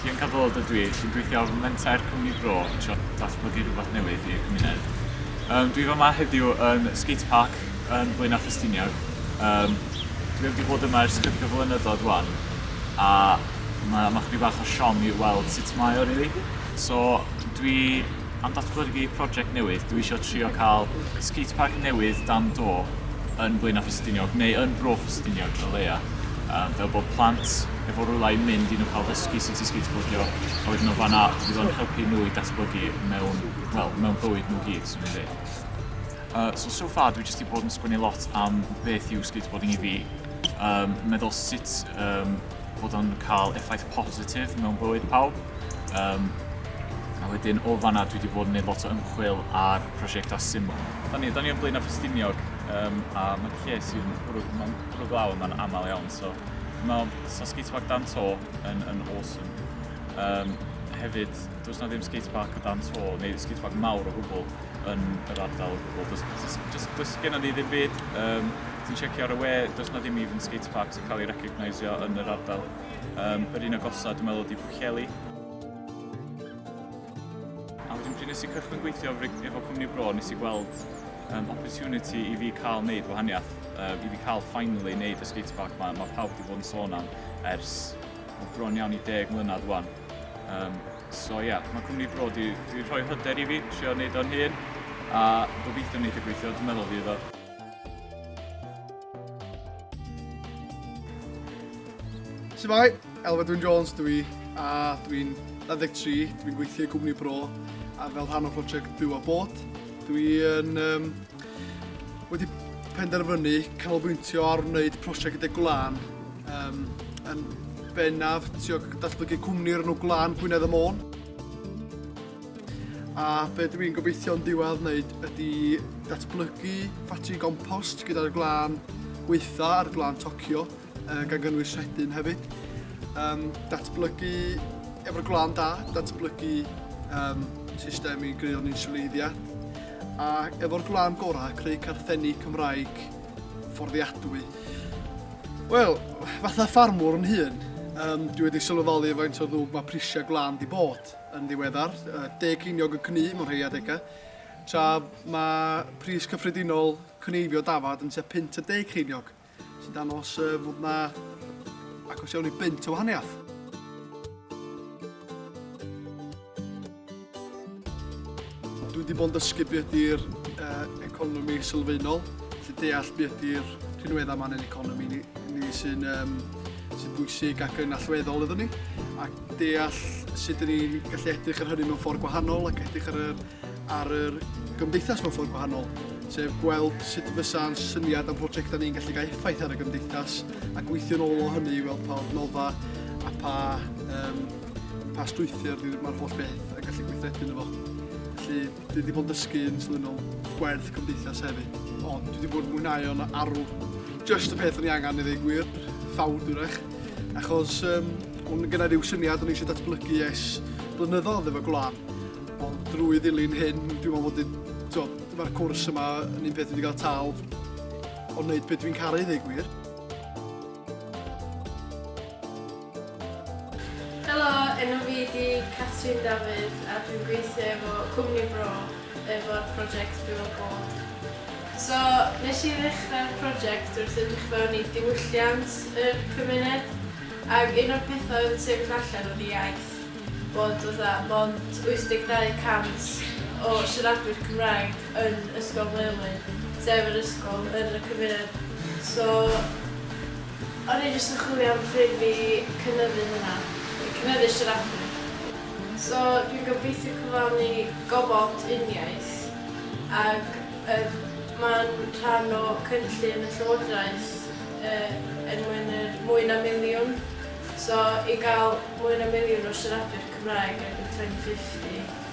Sian Cadwaladr dwi, sy'n gweithio ar Menter Cwmni Bro yn trio datblygu rhywbeth newydd i'r cymuned. Um, dwi fama heddiw yn Skate Park yn Blaenau Ffestiniog. Um, dwi wedi bod yma ers cyrpio flynyddoedd wan a mae ma chydig bach o siom i weld sut mae o rili. Really. So dwi Am datblygu project newydd, dwi isio trio cael skatepark newydd dan do yn Blaenau Ffestiniog, neu yn Bro Ffestiniog o leia. Um, fel bod plant efo rhywle i mynd i nhw cael dysgu sut i skateboardio, a wedyn o fanna fydd o'n helpu nhw i datblygu mewn, well, mewn bywyd nhw gyd, swn i'n dweud. Uh, so, so far, dwi jyst i bod yn sgwini lot am beth yw skateboarding i fi, um, meddwl sut um, bod o'n cael effaith positif mewn bywyd pawb. Um, a wedyn o fanna dwi wedi bod yn gwneud lot o ymchwil ar prosiectau syml. Da ni, da ni yn Blaenau Ffestiniog um, a mae lle sy'n bwrw, mae'n bwrw glaw yma'n aml iawn. So, mae so skatepark dan to yn, yn awesome. Um, hefyd, does na ddim skatepark o dan to, neu skatepark mawr o gwbl yn yr ardal o gwbl. Does, does, does, does gen i ddim byd. Um, ti'n checio ar y we, does na ddim even skateparks yn cael ei recognisio yn yr ardal. Um, yr un agosaf, dwi'n meddwl, ydi Pwllheli. A wedyn pryd nes i cychwyn gweithio efo cwmni bro, nes i gweld um, opportunity i fi cael wneud gwahaniaeth, uh, i fi cael finally wneud y skatepark ma, mae pawb wedi bod yn sôn am ers o bron iawn i deg mlynedd wan. Um, so ie, yeah, mae cwmni bro di, di rhoi hyder i fi, trio wneud o'n hun, a gobeithio wneud y gweithio, dwi'n meddwl fydd o. Siamai, Elfedwyn Jones dwi i, a dwi'n 23, dwi'n gweithio i gwmni bro, a fel rhan o prosiect Byw a Bod, dwi'n um, wedi penderfynu canolbwyntio ar wneud prosiect gyda Gwlan, um, yn bennaf tio datblygu cwmni o'r enw Gwlan Gwynedd y Môn. A be dwi'n gobeithio'n diwedd wneud ydy datblygu ffatri gompost gyda'r glân weitha a'r glân tocio, uh, gan gynnwys rhedyn hefyd. Um, datblygu, efo'r glân da, datblygu um, system i greu o'n insuleiddia. A efo'r glân gorau, creu carthenni Cymraeg fforddiadwy. Wel, fatha ffarmwr yn hun, um, dwi wedi sylweddoli faint o ddwb mae prisiau glân di bod. yn ddiweddar, Deg Ceiniog yn cnu mewn rhei adegau, tra mae pris cyffredinol cneifio dafad yn tua punt y deg ceiniog, sy'n dangos fod yna agos iawn i bunt o wahaniaeth. Dwi wedi bod yn dysgu beth ydy'r economi sylfaenol, felly deall beth ydy'r rhinweddau yma yn ein economi ni, ni sy'n um, sy'n bwysig ac yn allweddol iddyn ni. Ac deall sut dyn ni'n gallu edrych ar hynny mewn ffordd gwahanol ac edrych ar yr, ar yr gymdeithas mewn ffordd gwahanol, sef gweld sut fysa'n syniad am prosiectau ni'n gallu cael effaith ar y gymdeithas a gweithio'n ôl o hynny i weld pa adnodda a pa, um, pa strwythyr mae'r holl beth yn gallu gweithredu yn efo. Felly, Dwi 'di bod yn dysgu yn swydd mewn chwerth cymdeithas hefyd, ond dwi 'di bod yn mwynhau o'n arw. Just y peth o'n i angen i ddweud gwir, ffawd wrach, achos um, o'n gyda rhyw syniad o'n i eisiau datblygu es blynyddoedd efo gwlad, ond drwy ddilyn hyn, dwi'n meddwl bod i, mae'r cwrs yma yn un peth wedi cael tal, ond wneud beth dwi'n caru ddweud gwir. Helo, enw fi ydi Catrin Dafydd a dwi'n gweithio efo Cwmni Bro efo'r project Byw a Bod. So, nes i ddechrau'r project wrth edrych fewn i diwylliant yr cymuned ac un o'r pethau oedd yn sefyll allan oedd y iaith, bod fatha mond 82 y cant o siaradwyr Cymraeg yn Ysgol Maelwy, sef yr ysgol yn y cymuned. So, O'n i jyst yn chwilio am ffrind i cynyddu hwnna. I cynyddu siaradwyr. So dwi'n gobeithio cyflawni gofod uniaith ac yr mae'n rhan o cynllun y Llywodraeth er mwyn yr mwy na miliwn. So i gael mwy na miliwn o siaradwyr Cymraeg erbyn 2050.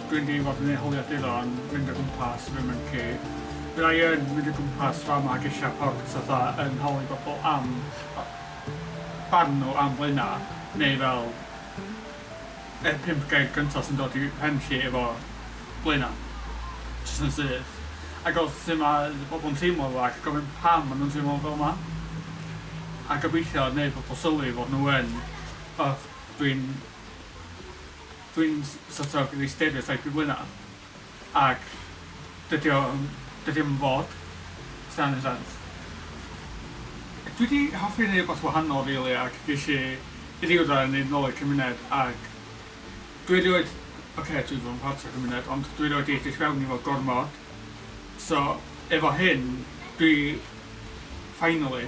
Dwi'n deimlo fy nghynhaliadur o'n mynd o gwmpas fy mwnci. Fydda i yn mynd o gwmpas fama ac eisiau pawb jyst fatha yn holi bobl am barn nhw am Blaenau neu fel yr pump gair gyntaf sy'n dod i pen chi efo Blaenau. Jyst yn syth. A gweld sut mae bobl yn teimlo fo ac gofyn pam maen nhw'n teimlo fel 'ma. A gobeithio wneud pobl sylwi fod nhw yn... O dwi'n... Dwi'n sort of rili stereotype i hwnna ac dydi o yym dydi o'm yn fod os dyna neud sense. Dwi 'di hoffi neud rwbath wahanol rili ac gesh i i ryw radde neud nôl i'r cymuned ac dwi erioed oce dwi 'di bod yn part o'r cymuned ond dwi erioed 'di edrych fewn i fo gormod so efo hyn dwi finally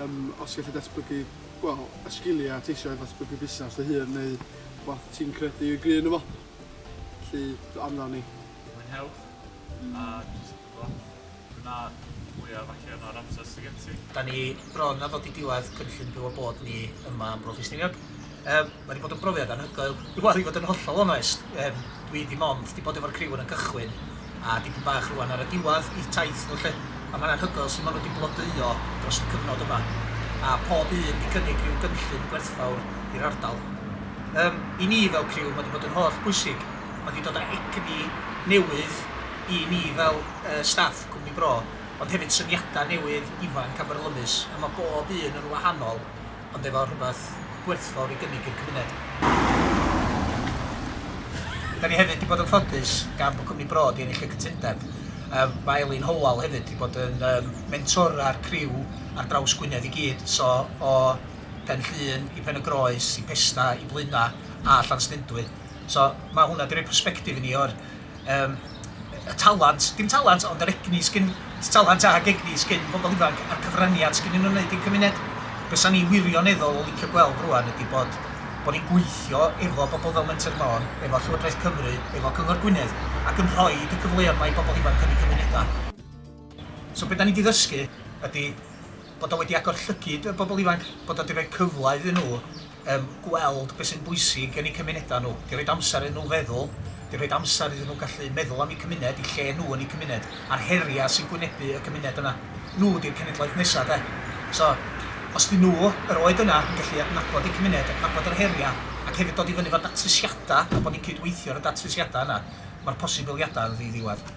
Yym, os gallu datblygu, wel, y sgiliau ti eisiau i ddatblygu busnes dy hun neu rhywbeth ti'n credu y gry ynddo fo, felly amdani. Mwynhewch a jyst rhowch gwna fwyaf allan o'r amser sy gen ti. Da ni bron a ddod i diwedd cynllun Byw a Bod ni yma am Bro Ffestiniog. Yym. Mae 'di bod yn brofiad anhygoel. Wel i fod yn hollol onest yym dwi dim ond 'di bod efo'r criw yn y cychwyn a dipyn bach rŵan ar y diwadd i'th taith nhw 'lly a mae'n anhygoel su' ma' nhw 'di blodeuo drost y cyfnod yma a pob un 'di cynnig rhyw gynllun gwerthfawr i'r ardal. Yym i ni fel criw ma' 'di bod yn holl bwysig, ma' 'di dod â egni newydd i ni fel yy staff cwmni bro ond hefyd syniada newydd, ifanc a byrlymus a ma' bob un yn wahanol ond efo rhywbeth gwerthfawr i gynnig i'r cymuned. Da ni hefyd wedi bod yn ffodus gan bod cwmni Bro wedi ennill y cytundeb. Yym mae Elin Howell hefyd wedi bod yn yym mentora'r criw ar draws Gwynedd i gyd, so o Pen Llŷn i Pen y Groes i Pesda i Blaenau a Llanstendwy. So mae hwnna 'di rhoi persbectif i ni o'r Yym, y talant, dim talant ond yr egni sgyn, talant ag egni sgyn pobl ifanc a'r cyfraniad sgynnyn nhw'n wneud i'r cymuned. Be sa'n i wirioneddol yn licio gweld rwan ydi bod, bod ni'n gweithio efo bobl fel Menter Môn, efo Llywodraeth Cymru, efo Cyngor Gwynedd ac yn rhoid y cyfleon 'ma i bobl ifanc yn eu cymunedau. So be 'dan ni 'di ddysgu ydi bod o wedi agor llygid y bobl ifanc, bod o 'di rhoi cyfle iddyn nhw yym gweld be sy'n bwysig yn eu cymunedau nhw, 'di rhoid amser iddyn nhw feddwl, 'di rhoid amser iddyn nhw gallu meddwl am eu cymuned, eu lle nhw yn eu cymuned, a'r heriau sy'n gwynebu y cymuned yna. Nhw 'di'r cenedlaeth nesa' de. So os 'dyn nhw, yr oed yna, yn gallu adnabod eu cymuned, adnabod yr heriau, ac hefyd dod i fyny efo datrysiadau, a bod ni'n cyd-weithio ar y datrysiadau yna, ma'r posibiliadau yn ddi-ddiwedd.